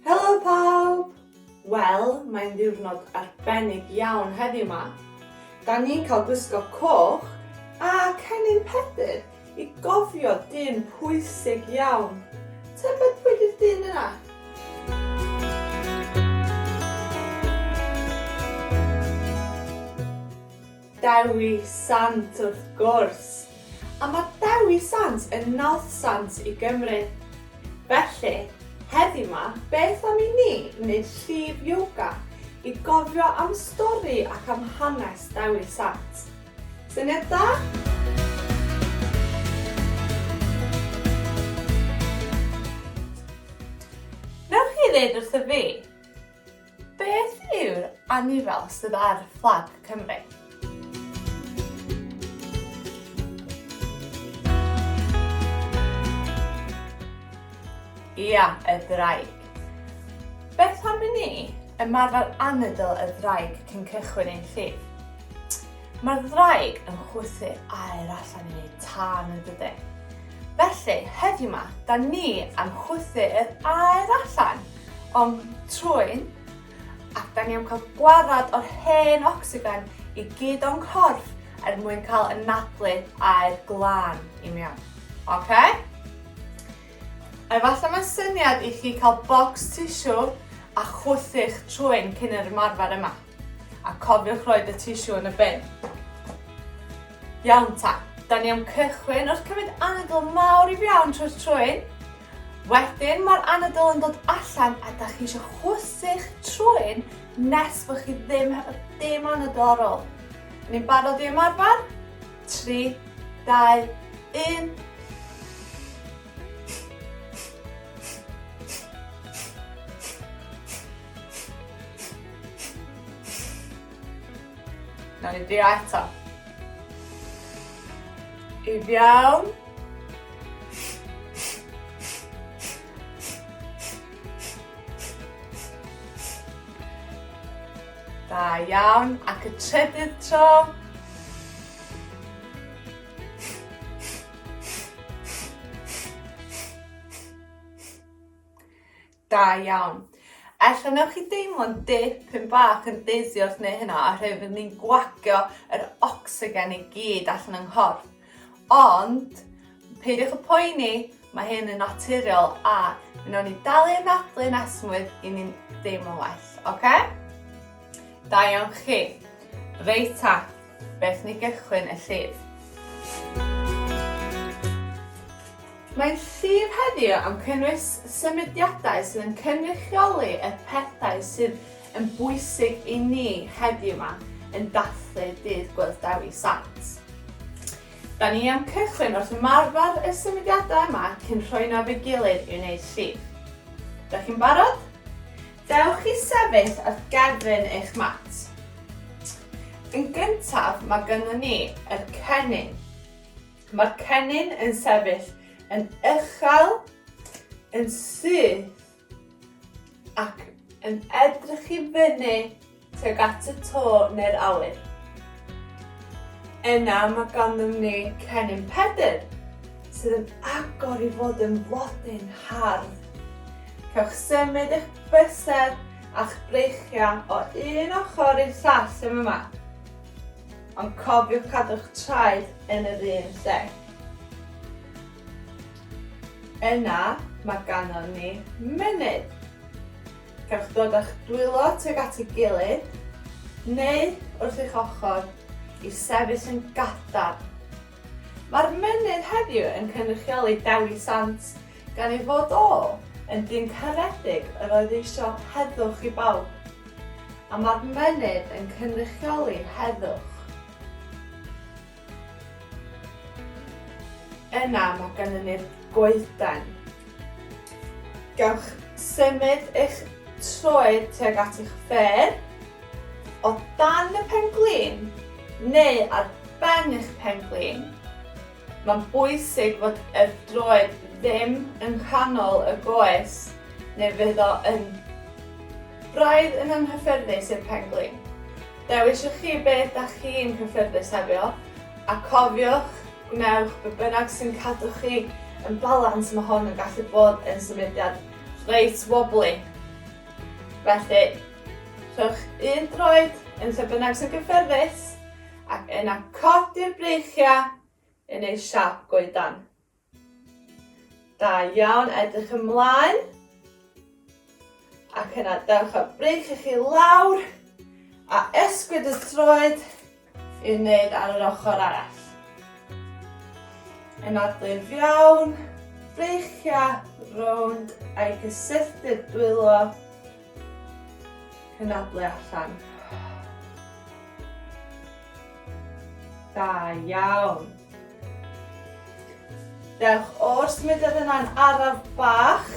Helo pawb! Wel, mae'n ddiwrnod arbennig iawn heddiw ma. Da ni'n cael gwisgo coch a cennin Pedr i gofio dyn pwysig iawn. Tybed pwy di'r dyn yna? Dewi Sant wrth gwrs! A mae Dewi Sant yn North Sant i Gymru. Felly, heddiw 'ma, beth am i ni wneud llif yoga i gofio am stori ac am hanes Dewi Sant? Syniad da? Wnewch chi ddeud wrtho fi? Beth yw'r anifail sydd ar fflag Cymru? Ia, y ddraig. Beth am i ni ymarfer anadl y ddraig cyn cychwyn ein llif? Mae'r ddraig yn chwythu aer allan i ni tan y dydy. Felly, heddiw ma, da ni am chwythu yr aer allan! Ond trwyn, a da ni am cael gwarad o'r hen ocsigen i gyd o'n corff er mwyn cael ynadlu aer glân i mewn. OK? Efallai mae'n syniad i chi cael bocs tissue a chwythu'ch trwyn cyn yr ymarfer yma. A cofiwch roed y tissue yn y bin. Iawn ta, da ni am cychwyn wrth cymryd anadl mawr i fiawn trwy'r trwyn. Wedyn mae'r anadl yn dod allan a da chi eisiau chwythu'ch trwyn nes bod chi ddim hefo dim anadl ar ôl. Ni'n barod i ymarfer? 3, 2, 1. Nawr ni drio eto. I fiawn. Da iawn, ac y trydydd tro. Da iawn. Ella newch chi deimlo'n dipyn bach yn dizzy wrth wneud hynna oherwydd fydd ni'n gwagio yr ocsigen i gyd allan yng nghorff. Ond, peidiwch y poeni, mae hyn yn naturiol a mi wnawn ni dalu yn adlu nes mwyd i ni'n deimlo'n well, oce? Okay? Da iawn chi. Reit ta, Beth ni gychwyn y llif. Mae'n llif heddiw am cynnwys symudiadau sydd yn cynrychioli y pethau sydd yn bwysig i ni heddiw ma yn dathlu dydd Gwyllt Dewi Sant. Da ni am cychwyn wrth ymarfer y symudiadau yma cyn rhoi nhw at ei gilydd i wneud llif. Da chi'n barod? Dewch chi sefyll ar gefn eich mat. Yn gyntaf mae gynnon ni yr cennin. Mae'r cennin yn sefyll yn uchel, yn syth ac yn edrych i fyny tuag at y to neu'r awyr. Yna mae ganddyn ni cennin Pedr, sydd yn agor i fod yn flodyn hardd. Cewch symud eich bysedd a'ch breichiau o un ochr i'r llall yn yma. Ond cofiwch cadw'ch traed yn yr un lle. Yna mae ganon ni mynydd. Cewch ddod â'ch dwylo tuag at ei gilydd, neu wrth eich ochr, i sefyll yn gadarn. Mae'r mynydd heddiw yn cynrychioli Dewi Sant, gan ei fod o yn dyn caredig yr oedd eisio heddwch i bawb. A mae'r mynydd yn cynrychioli heddwch. Yna mae gennym ni'r goeden. Gewch symud eich troed tuag at eich ffêr, o dan y penglin neu ar ben eich penglin. Mae'n bwysig fod y droed ddim yng nghanol y goes neu fydd o yn braidd yn anghyffyrddus i'r penglin. Dewiswch chi beth da chi'n hyffyrddus hefio, a cofiwch, gwnewch be bynnag sy'n cadw chi yn balans, mae hon yn gallu bod yn symudiad reit wobbly. Felly, rhowch un droed yn lle bynnag sy'n gyffyrddus, ac yna codi'r breichiau yn eu siap goedan. Da iawn, edrych ymlaen. Ac yna dewch â breic i chi lawr a esgwyd y troed i'w wneud ar yr ochr arall. Yn adlif iawn, breichiau rownd a'i gysylltu'r dwylo Cynadle allan. Da iawn. Dewch o'r symudedd yna'n araf bach.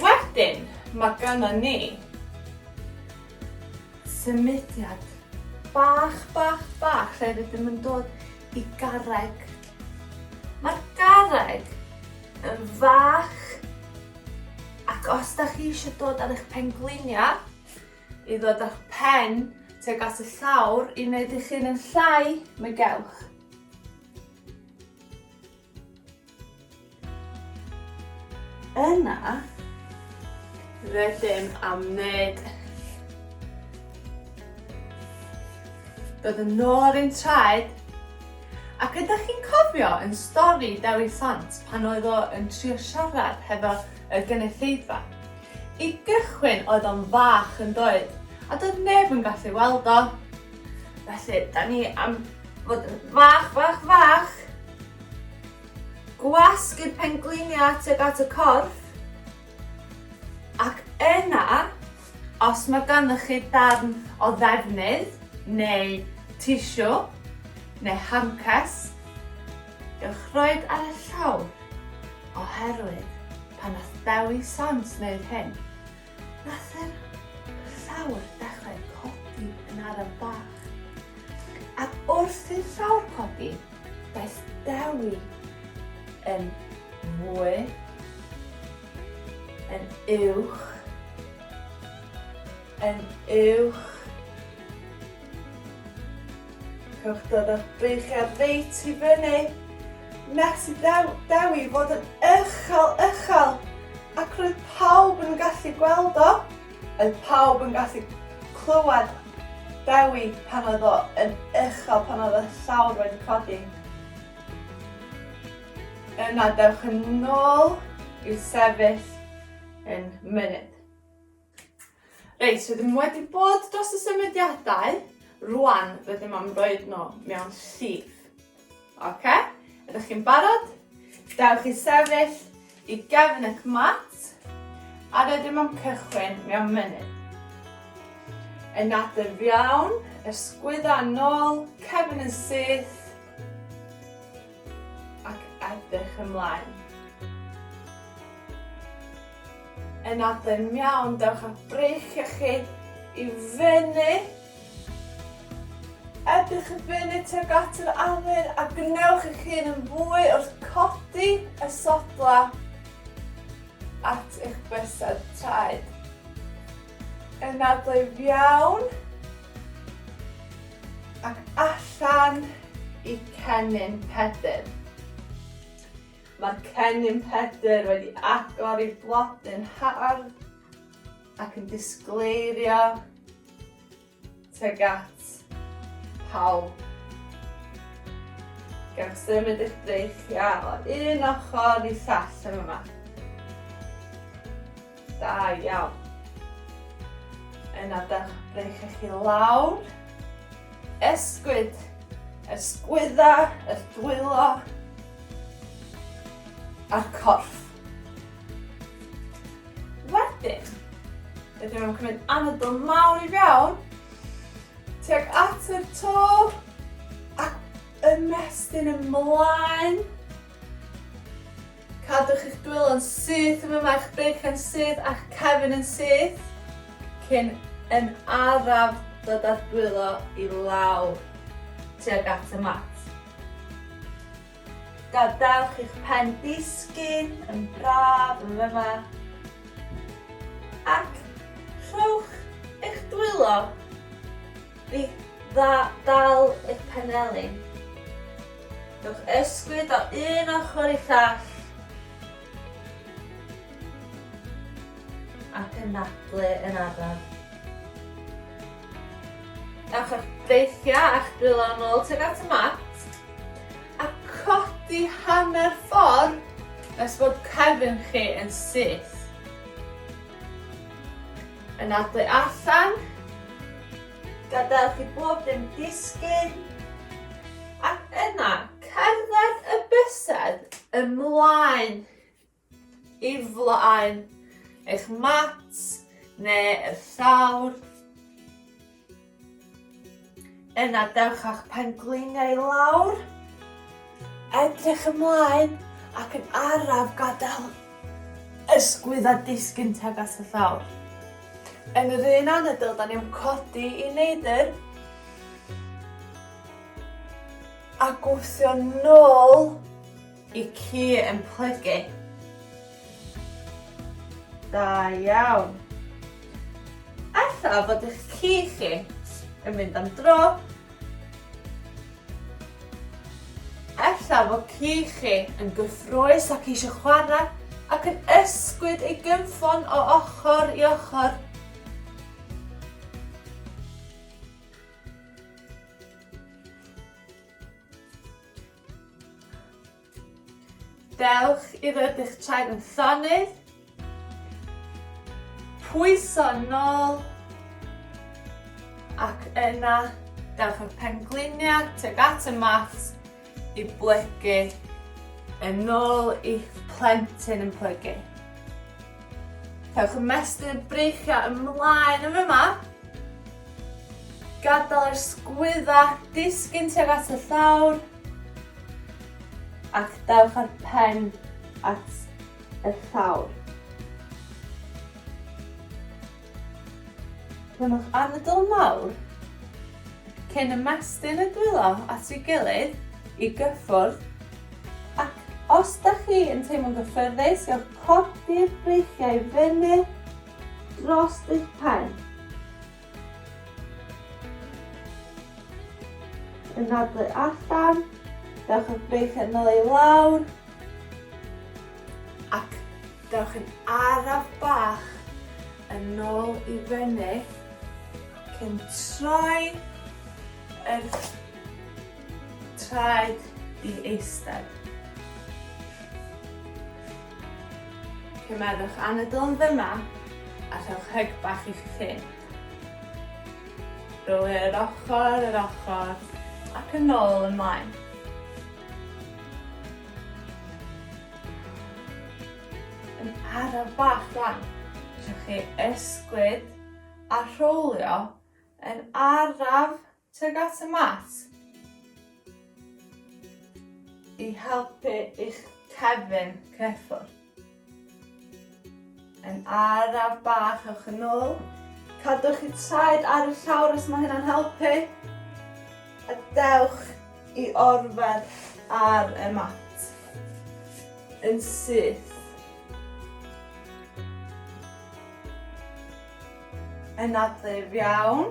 Wedyn, mae gynna ni symudiad bach, bach, bach, lle rydym yn dod i garreg. Mae'r garreg yn fach. Ac os da chi eisiau dod ar eich pengliniau, i ddod â'ch pen tuag at y llawr i wneud eich hun yn llai, mi gewch. Yna, rydym am wneud Bydd yn ôl i'n traed Ac ydych chi'n cofio yn stori Dewi Sant pan oedd o yn trio siarad hefo y gynulleidfa? I gychwyn oedd o'n fach yn doedd, a doedd neb yn gallu weld o. Felly, da ni am fod yn fach, fach, fach. Gwasg i'r pengliniau tuag at y corff. Ac yna, Os mae ganddo chi darn o ddefnydd neu tisiw neu hancers, gewch roid ar y llawr, oherwydd pan nath Dewi Sant wneud hyn, nath yr llawr dechrau codi yn araf bach. Ac wrth i'r llawr codi, daeth Dewi yn fwy yn uwch, yn uwch. Cewch dod â'ch breichiad reit i fyny. Nes i ddew, dew i fod yn uchel, uchel. Ac roedd pawb yn gallu gweld o. Roedd pawb yn gallu clywed Dewi pan oedd o yn uchel, pan oedd y llawr wedi codi. Yna dewch yn ôl i'w sefyll yn mynydd. Reit, rydym wedi bod dros y symudiadau. Rwan, rydym am roed nhw mewn llif. Oce? Ydych chi'n barod? Dewch i sefyll i gefn eich mat a rydym am cychwyn mewn munud. Yn nadur iawn, ysgwydda nôl, cefn yn syth ac edrych ymlaen. Yn nadur iawn, dewch â breichiau chi i fyny Edrych y funud tuag at yr awyr a gwnewch eich hun yn fwy wrth codi y sodla at eich bysedd traed. Yn adlwyf iawn ac allan i cennin pedr. Mae'r cennin pedr wedi agor ei blodyn hardd ac yn disgleirio Tuag at pawb. Gewch symud eich breichiau o un ochr i llall yn yma. Da iawn. Yna dewch breichiau chi lawr. Esgwyd. Esgwydda, yr dwylo, a'r corff. Wedyn, rydyn nhw'n cymryd anadl mawr i fewn, tuag at yr to, ac ymestyn ymlaen. Cadwch eich dwylo yn syth yma, mae'ch beic yn syth a'ch cefn yn syth, cyn yn araf dod â'r dwylo i lawr tuag at y mat. Gadewch i'ch pen ddisgyn yn braf yn fyma. Ac rhowch eich dwylo i ddal eich penelin. Rhowch ysgwyd o un ochr i llall. ac yn nadlu yn araf. Ewch â'ch breichiau a'ch dwylo'n ôl tuag at y mat a codi hanner ffordd nes bod cefn chi yn syth. Yn adlu allan Gadewch i bob dim disgyn, ac yna cerdded y bysedd ymlaen i flaen eich mat neu y llawr. Yna dewch â'ch pen-gliniau i lawr. Edrych ymlaen ac yn araf gadael ysgwydd a disgyn tuag at y llawr. Yn yr un anadl, da ni am codi i neidr a gwthio nôl i ci yn plygu. Da iawn. Alla fod eich ci chi yn mynd am dro Ella fod ci chi yn gyffrous ac eisiau chwarae ac yn ysgwyd ei gynffon o ochr i ochr. Dewch i rybu'ch trefn llonydd. Pwyso nôl. Ac yna, dewch â'r pengliniau tuag at y mat i blygu yn ôl i'ch plentyn yn plygu. Cewch ymestyn y breichiau ymlaen yn fy ma. Gadael yr sgwydda disgyn tuag at y llawr. Ac dewch â'r pen at y llawr. Rhymwch anadl mawr cyn ymestyn y dwylo at ei gilydd i gyffwrdd ac os da chi yn teimlo'n gyffyrddus gewch codi'r breichiau fyny dros eich pen. Yn nadlu allan, dewch y beic yn ôl i lawr, ac dewch yn araf bach yn ôl i fyny, ac yn troi yr traed i eistedd. Cymmerwch anadl yn ddyma a rhowch hyg bach i'ch cyn. Rowch e yr ochr yr ochr ac yn ôl ymlaen. Yn araf bach rwan, rhowch chi ysgwyd a rhowlio yn araf Tuag at y mat. I helpu i'ch cefn cneffor. Yn araf bach ewch yn ôl. Cadwch chi traed ar y llawr os mae hynna'n helpu. A dewch i orfed ar y mat. Yn syth. Yn adleif iawn.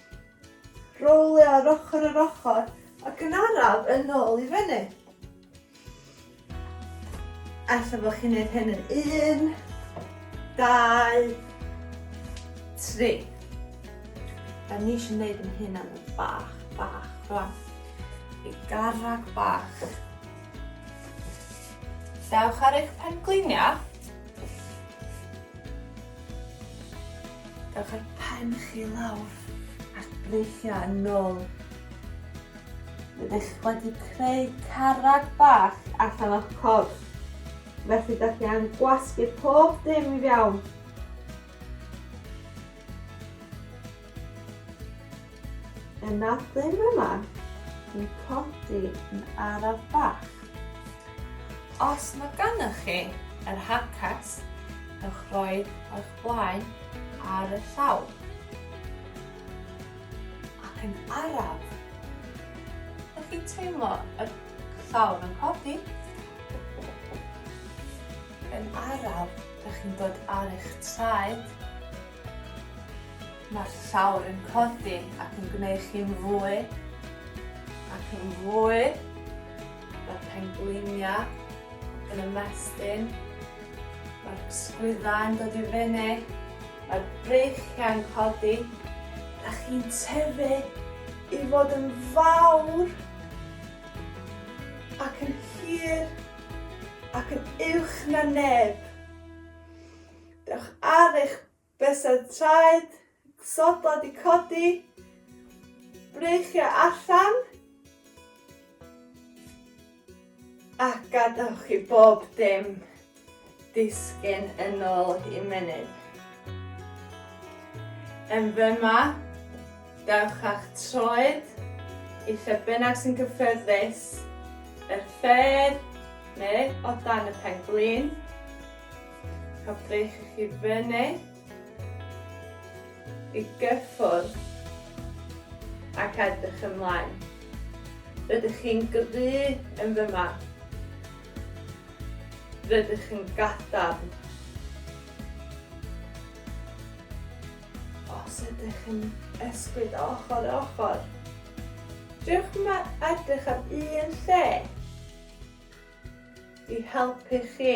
Rowlio ar ochr yr ochr ac yn araf yn ôl i fyny. Ella bod chi'n neud hyn yn un, dau, tri. A ni eisiau neud yn hyn am bach, bach, rwan. I garreg bach. Dewch ar eich pengliniau. Dewch â'r pen chi lawr ac breichiau yn ôl. Rydych wedi creu carreg bach allan o'ch corff. Felly da chi am gwasgu pob dim i fiawn. Yn adeg yma, dwi'n codi yn araf bach. Os mae gennych chi yr handcart, ewch roi eich blaen ar y llaw. Ac yn araf, ydych chi'n teimlo y llawr yn codi? Yn araf, ydych chi'n dod ar eich traed Mae'r llawr yn codi ac yn gwneud chi'n fwy ac yn fwy. Mae'r pengliniau yn ymestyn. Mae'r sgwyddau yn dod i fyny. Mae'r breichiau yn codi. Da chi'n tyfu i fod yn fawr ac yn hir ac yn uwch na neb. Dewch ar eich bysedd traed, sodlau di codi, breichiau allan, a gadewch i bob dim disgyn yn ôl i menydd. Yn fyma, dewch â'ch troed i lle bynnag sy'n gyffyrddus, yr ffedd neu o dan y pen glin. a breich chi fyny i gyffwrdd ac edrych ymlaen. Rydych chi'n gyfu yn fy ma. Rydych yn gadarn. Os ydych yn ysgwyd ochr ochr, Dewch yma edrych ar un lle i helpu chi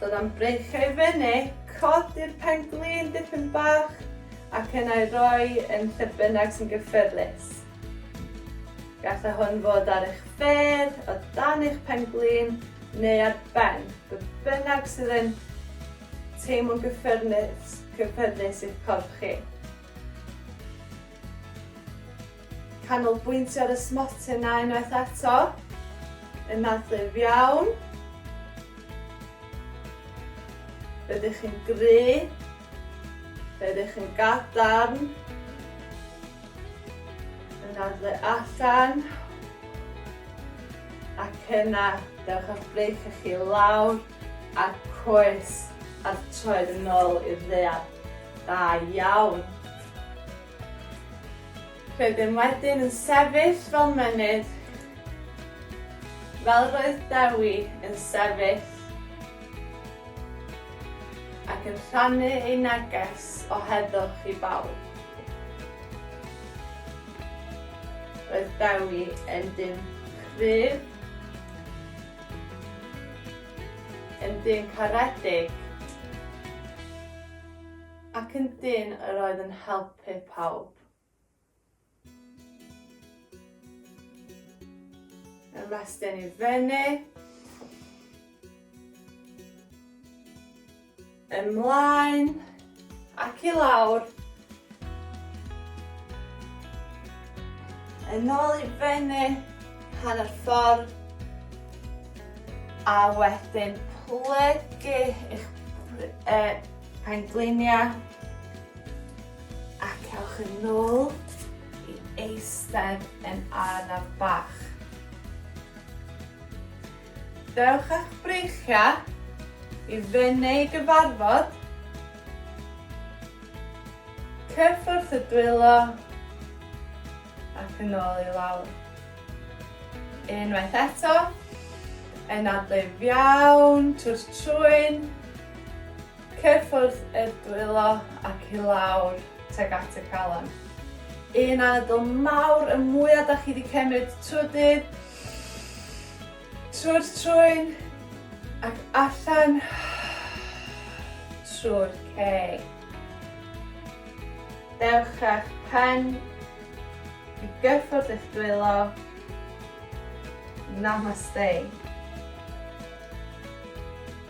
Dod am breichiau i fyny, codi'r pen-glin dipyn bach ac yna ei roi yn lle bynnag sy'n gyffyrddus. Gallai hwn fod ar eich fedd, o dan eich pen-glin neu ar ben, be bynnag sydd yn teimlo'n gyffyrddus i'ch corff chi. Canolbwyntio ar y smote 'na unwaith eto. Yn adlif iawn. Fe ydych chi'n gry. Fe ydych chi'n gadarn. Yn adlu allan. Ac yna, dewch â'ch breic â chi lawr a coes a'r troed yn ôl i'r ddeall. Da iawn. Rydym wedyn yn sefyll fel mynydd, fel roedd Dewi yn sefyll, ac yn rhannu ei neges o heddwch i bawb. Roedd Dewi yn dyn cryf, yn dyn caredig, Ac yn dyn yr oedd yn helpu pawb. Ymestyn i fyny. Ymlaen. Ac i lawr. Yn ôl i fyny. Hanner ffordd. A wedyn plygu eich e, Pengliniau. Ac ewch yn nôl i eistedd yn araf bach. Dewch â'ch breichiau i fyny i gyfarfod. Cyffwrdd y dwylo ac yn ôl i lawr. Unwaith eto, yn adlif iawn, twrs trwyn, cyffwrdd y dwylo ac i lawr teg at y calon. Un anadl mawr y mwyaf da chi wedi cymryd trwy dydd. Trwy'r trwyn ac allan trwy'r ceg. Dewch â'ch pen i gyffwrdd eich dwylo. Namaste.